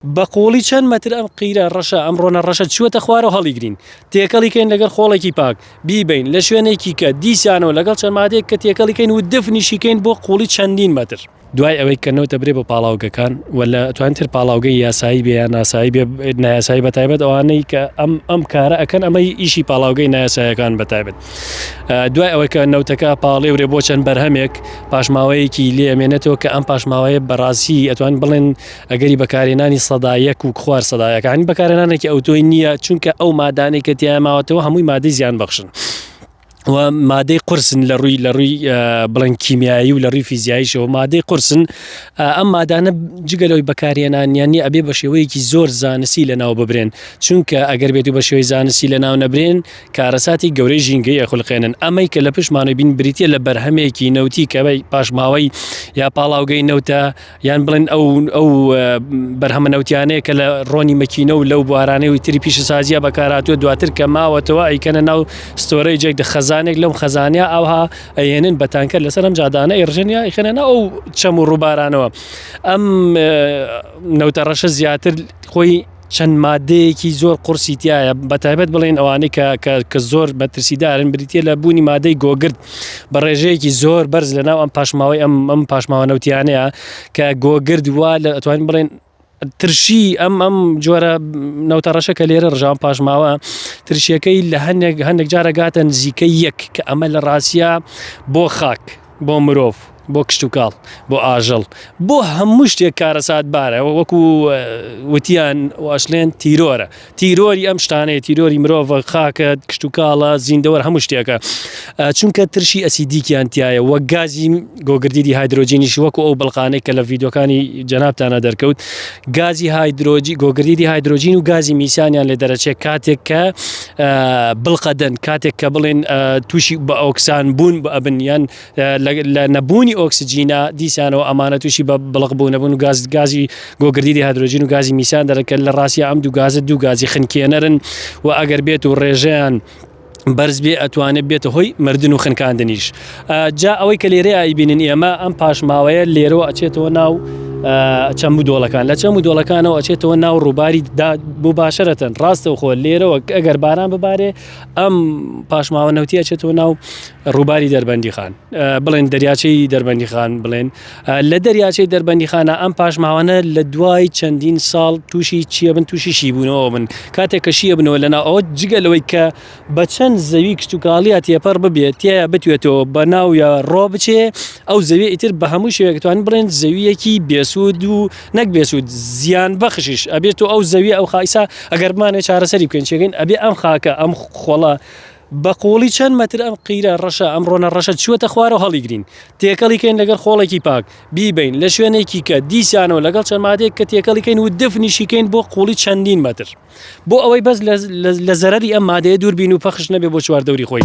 بە قووڵی چەند مەتر ئەم قیرە ڕەشە، ئەم ڕۆنە ڕەشە چووەتە خوار و هەڵیگرین. تێکەڵی کەین لەگەڵ خۆڵێکی پاک، بیبەین لە شوێنێکی کە، دیسانەوە لەگەڵ چەند مادەیەک کە تێکەڵی کەین و دفنیشی کەین بۆ قووڵی چەندین مەتر. دوای ئەوەی کە نەوت دەبرێ بۆ پاڵاوگەکان و لە توانی تر پاڵاوگەی یاسایی بێ یا ناسایی بێ، نایاسایی بە تایبەت ئەوانەی کە ئەم ئەم کارە ئەکەن ئەمە ئیشی پاڵاوگەی نایاساییەکان بە تایبەت دوای ئەوەی کە نەوتەکە پاڵێورێ بۆ چەند بەرهەمێک پاشماوەیەکی لێ ئەمێنێتەوە کە ئەم پاشماوەیە بە ڕاستی ئەتوان بڵێن ئەگەری بەکارهێنانی سەدا یەک و خوار سەدا یەکانی بەکارهێنانێکی ئەوتۆی نییە چونکە ئەو مادانەی کە تیا ماوەتەوە هەمووی مادەی زیان بەخشن. و مادەی قرسن لە ڕووی لە ڕووی بڵند کیمیایی و لە ڕووی فیزیاییشەوە مادەی قرسن ئەم مادانە جگەلەوەی بەکارهێنانیانی ئەبێ بە شێوەیەکی زۆر زانسی لە ناو ببرێن چونکە ئەگەر بێت و بە شێوەی زانستی لە ناو نەبرێن کارەساتی گەورەی ژینگەی ئەخلقێنن ئەمەی کە لە پشمانە بین بریتە لە بەرهەمێکی نەوتی کەەوەی پاشماوەی یا پاڵاوگەی نەوتە یان بڵێن ئەو ئەو بەرهەمە نەوتیانەیە کە لە ڕۆنی مەکینە و لەو بوارانەی و تری پیشە سازیە بەکاراتوە دواتر کە ماوەتەوە ئەیکەنە ناو ستۆرەی جێک دە خەزانێک لەم خەزانیا ئەوها ئەێنن بەتانکە لەسەر ئەم جادانە ئێرژنیا ئیخێنە ئەو چەم و ڕووبارانەوە ئەم نەوتە ڕەشە زیاتر خۆی چەند مادەیەکی زۆر قورسی تیایە بەتایبەت بڵێن ئەوانەی کە کە کە زۆر مەترسیدارن بریتە لە بوونی مادەی گۆگرد بە ڕێژەیەکی زۆر بەرز لە ناو ئەم پاشماوەی ئەم ئەم پاشماوە نەوتیانەیە کە گۆگرد وا لە ئەتوانین بڵێن ترشی ئەم ئەم جۆرە نەوتە ڕەشە کە لێرە ڕژان پاشماوە ترشیەکەی لە هەندێک هەندێک جارەگاتە نزیکە یەک کە ئەمە لە ڕاستە بۆ خاک بۆ مرۆڤ، بۆ کشتوکاڵ، بۆ ئاژەڵ، بۆ هەموو شتێک کارەساتبارە، وەکو وتیان و ئەشلێن تیرۆرە، تیرۆری ئەم شتانەیە، تیرۆری مرۆڤە، خاکە، کشتوکاڵە، زیندەوەر، هەموو شتێکە، چونکە ترشی ئەسیدیکیان تیایە و گازی گۆگردیدی هایدرۆجینیش وەکو ئەو بڵقانەی کە لە ڤیدیۆکانی جەنابتانا دەرکەوت، گازی هایدرۆجی، گۆگردیدی هایدرۆجین و گازی میسانیان لێ دەرەچێ کاتێک کە. بڵقەدەن کاتێک کە بڵێن تووشی بە ئۆکسان بوون بە ئەبن یان لە نەبوونی ئۆکسسجینا دیسانەوە ئەمانە تووشی بە بڵق بوو نەبوون و گاز گازی گۆگردی هەدروۆژین و گازی میسان دەرەکە لە ڕاستە ئەم دوو گازە دوو گازی خنکێنەرن و ئەگەر بێت و ڕێژیان بەرز بێ ئەتوانێت بێتە هۆی مردن و خنکاندنیش. جا ئەوەی کە لێرەیە ئەیبینین ئێمە ئەم پاشماوەیە لێرەوە ئەچێتەوە ناو چەم و دۆڵەکان لە چەم و دۆڵەکانەوە ئەچێتەوە ناو ڕووباری بۆ باشەرەتەن ڕاستە خۆ لێرەوە ئەگەر باران ببارێ ئەم پاشماوە نەوتیە چێتەوە ناو ڕووباری دەربەندی خان بڵێن دەریاچەی دەربەندی خان بڵێن لە دەریاچەی دەربەندی خانە ئەم پاشماوانە لە دوای چەندین ساڵ تووشی چیە بن تووشی شی بوونەوە بن کاتێک کەشیە بنەوە لەنا ئەو جگە لەوەی کە بە چەند زەوی کشتوکاڵییە تێپەڕ ببێت تیایا بتوێتەوە بە ناو یا ڕۆ بچێ، ئەو زەویە ئیتر بە هەموو شێوەیەک ئەتوانین بڵێن زەوییەکی بێسوود و نەک بێسوود زیانبەخشیش ئەبێت، تۆ ئەو زەویە ئەو خا ئیسا ئەگەر بمانەوێت چارەسەری بکەین چیەکەین ئەبێ ئەم خاکە ئەم خۆڵە بە قووڵی چەند مەتر ئەم قیرە ڕەشە ئەم ڕۆنە ڕەشە چووەتە خوارەوە هەڵیگرین تێکەڵی کەین لەگەر خۆڵێکی پاک بیبەین لە شوێنێکی کە دیسانەوە لەگەڵ چەند مادەیەک کە تێکەڵی کەین و دفنیشی کەین بۆ قووڵی چەندین مەتر. بۆ ئەوەی بەس لە زەرەری ئەم مادەیە دوور بین و پەخش نەبێ بۆ چواردەوری خۆی.